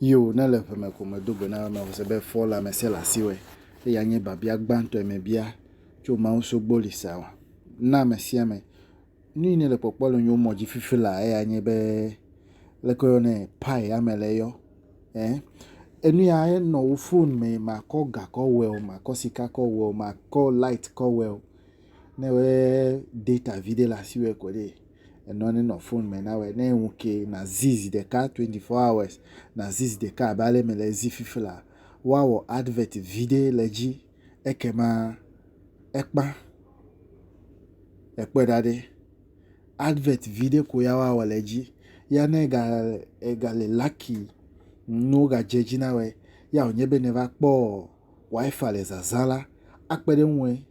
Io, ne le ʋe me ko medo gbe na ame ɔse be fɔ la mese le asiwɔe, eya nye biabia gbãtɔe mebia tso Mawu sogbo li sa wa na ame sia ame. Nu yi ne le kpɔkpɔ le nyo mɔ dzi fifi la eya nye be leke wo yɔnɛ pie ame le yɔ eh enu ya enɔ wo fone me makɔ ga kɔ wɛo makɔ sika kɔ wɛo makɔ light kɔ wɛo. Ne wòe data viɖe le asiwò ko ɖee, enɔ ne nɔ fon me nawɔe. Ne ŋu ke nàzi zi ɖeka twenty four hours, nàzi zi ɖeka abe ale mele zi fifi lea, woawɔ advert viɖe le edzi ekema ekpã. Èkpɔe ɖa ɖe. Advert viɖe ko ya woawɔ le edzi. Ya ne ega egale lucky ne wogadze edzi nawɔe ya wònye be ne va kpɔ WiFi le zazã la, akpe ɖe eŋue.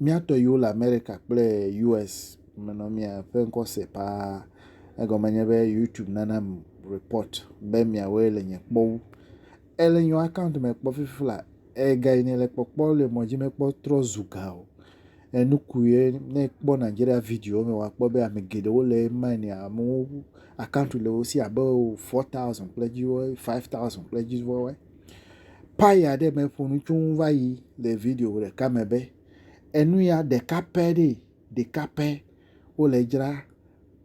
Mía tɔ yiwo le Amerika kple US me nɔ mía ƒe ŋkɔ se paa. Egɔme nye be YouTube nana m report be miawoe le nye kpɔ wu. Ele nyɔ account me kpɔ fifi la, ega yi ne le kpɔkpɔ le mɔ dzi me kpɔ trɔ zu ga o. Enu ku ye ne kpɔ Nigeria video me wa kpɔ be ame geɖewo le ema ne amewo account le wo si abe 4000 kple dziwo 5000 kple dziwo. Paya ɖe me ƒo nu tsoŋ va yi le video ɖeka me be enu ya ɖeka pɛ ɖee, ɖeka pɛ wole dzra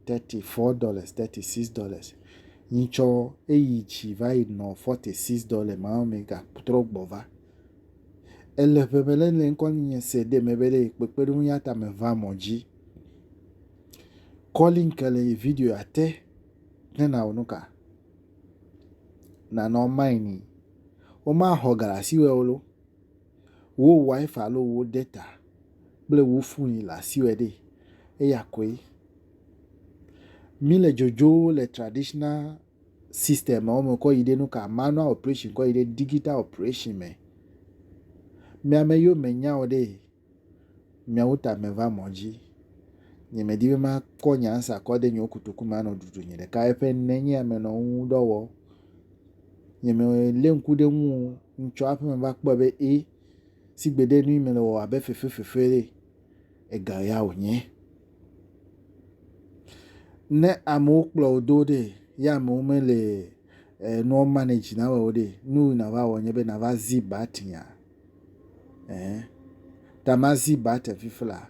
thirty four dollars, thirty six dollars. Nyi tsɔ eyi dzi va yi nɔ forty six dollars ma me gatrɔ gbɔ va. Ele ƒe me le le ŋkɔ nye se ɖe me be ɖe kpekpeɖeŋu ya ta me va mɔ dzi. Kɔli nke le video ya te ne na wo nu ka. nanɔ maini woma xɔ galasi wɛ olo wo wifi alo wo data kple wo foni le asi wɛ ɖee eya koe mile dzodzo le traditional system wo me kɔ yi ɖe nuka manual operation kɔ yi ɖe digital operation me miame yio me nyawo ɖee Miawo ta meva mɔ dzi. Nyemedi be makɔ nye ansa kɔ ɖe nyewo kotoku me anɔ ɖuɖu nye ɖeka eƒe ne nye ame nɔ ŋu dɔ wɔ. Nyemelé ŋku ɖe ŋu o. Ŋtsɔ aƒe me va kpɔe be e sigbe ɖe nu yi mele wɔ abe fefefefe ɖe ega ya wònye. Ne amewo kplɔ wò do ɖe ye amewo mele eh, nua manage na wɔ o ɖe, nu yi nàva wɔ nye be nàva zi ba tinya. ɛɛ, ta mazi ba te fifla.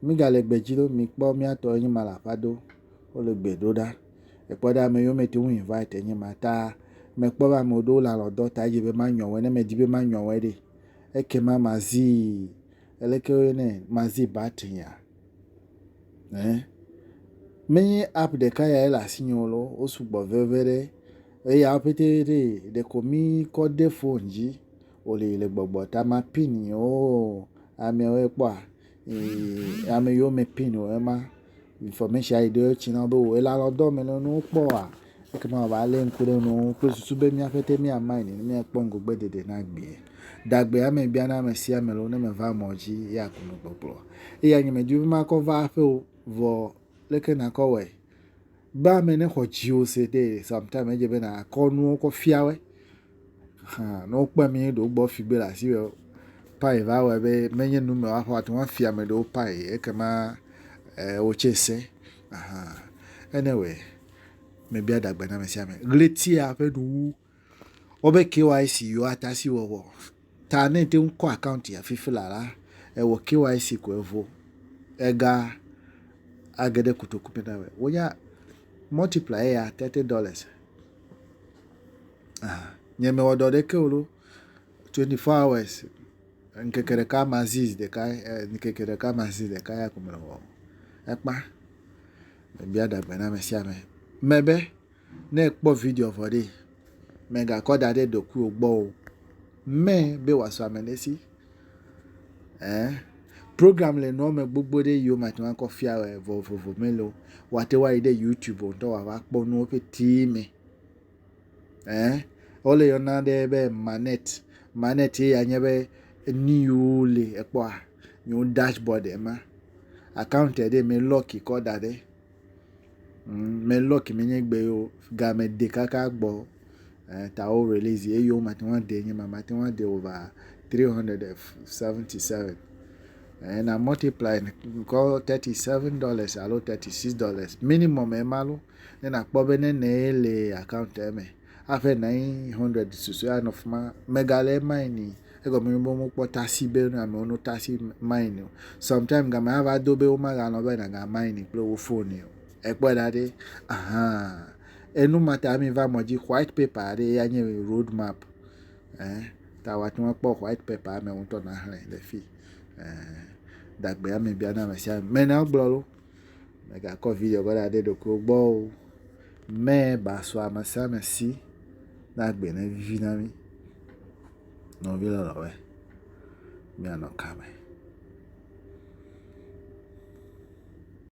Mi ga le gbe dzi ɖo, mi kpɔ mia tɔ enyi ma la ƒa do, wo le gbe ɖo ɖa. Ekpɔ ɖa me yo me te wu invite enyi ma ta me kpɔ ba me ɖo la lɔ dɔ ta dzi be ma nyɔ wɛ ne me di be ma nyɔ wɛ ɖe. Eke ma mazi, ele ke wo ne mazi ba te ya. Ɛɛ, me nyi app de ka ya ele asi nyo lo, wo sugbɔ veve ɖe. Eya wo pete ɖe, ɖe ko mi kɔ de phone dzi. woli le gbɔgbɔ ta ma pin oo amewo kpɔa ee ame yiwo me pin o ema infɔmeshin yi ɖewo tsi na wo be wɔ ela lɔ dɔ me nɔ ne wokpɔ oa ekema wòava lé ŋku ɖe nu kple susu be mía ƒete mía main míakpɔ ŋgɔgbe dede na gbee. Dagbe ame bia na ame sia ame lɔ ne meva mɔ dzi ya ku me kpɔkplɔ. Eya nye medi be makɔ va aƒe o vɔ leke nakɔ wɔe. Be ame ne xɔ dziwò se de sometime edze be nakɔ nuwo kɔ fia woe Hã ne wokpɔe be míeɖe wogbɔ figbɛ le asi be pay va wɔe be menye nu me woaxɔ ate ŋu afia ame ɖewo pay ekema e, wotse se. Aha. Anyway, mebia dagbe na ame sia ame. Ɣletia ƒe nuwu wobe KYC yiwo ata si wɔwɔ. Ta ne te ŋu kɔ akaunti afifi la la, ewɔ KYC ko evo. Ega age ɖe kotoku me na me. Wonya multiply eya thirty dollars. Aha, nye mewɔ dɔ ɖeke o ɖo. Twenty four hours, ŋkeke ɖeka ma zi zi ɖeka ye, ŋkeke ɖeka ma zi ɖeka ya ko mele wɔm. Ekpã, mebia ɖe gbe na ame sia ame me be ne ekpɔ video vɔ ɖee, mègakɔ da ɖe ɖokuiwò gbɔ o, mɛ be wòasɔ ame ɖe si. Ɛɛ, program le nua me gbogbo ɖe yi wome ate ŋu akɔ fia wòa, vovovo mele o. Woate ŋu ayi ɖe youtube ŋutɔ wòa va kpɔ nuwo ƒetee me. Ɛɛ, wole yɔna ɖe be magnet. Magnet ye ya nye be nu yiwo le ekpɔa, nyewo dashboard ema. Account ɖe, mi lock kɔ da ɖe. Me lɔki me nye gbe yewo game de kaka gbɔ eh ta wo release ye yewo mate ŋu ade nye ma mate ŋu ade over three hundred and seventy seven eh na multiply kɔ thirty seven dollars alo thirty six dollars minimum ema lo ne nakpɔ be nene ye le account eme. aƒe nine hundred susɔea nɔ fi ma mega le mine ni egɔme nye be womekpɔ taxi be ne amewo no taxi mine o sometime game ava do be womaganɔ be nàga mine kple wo foni o ekpɔe ɖa ɖi ahan enu ma ta mi va mɔ dzi white paper aɖe ya nye road map eh ta wòate ŋu akpɔ white paper me ŋutɔ naxlẽ le fi eh dagbe ame bia na ame sia ame mena gblɔ lo. Mègakɔ vidzẽ kɔ ɖaɖɛ ɖokuiwò gbɔ o. Mɛ ba sɔ amesiame si ne agbe ne vivi na mí. Nɔvi lɔlɔ̃woe, míanɔ kame.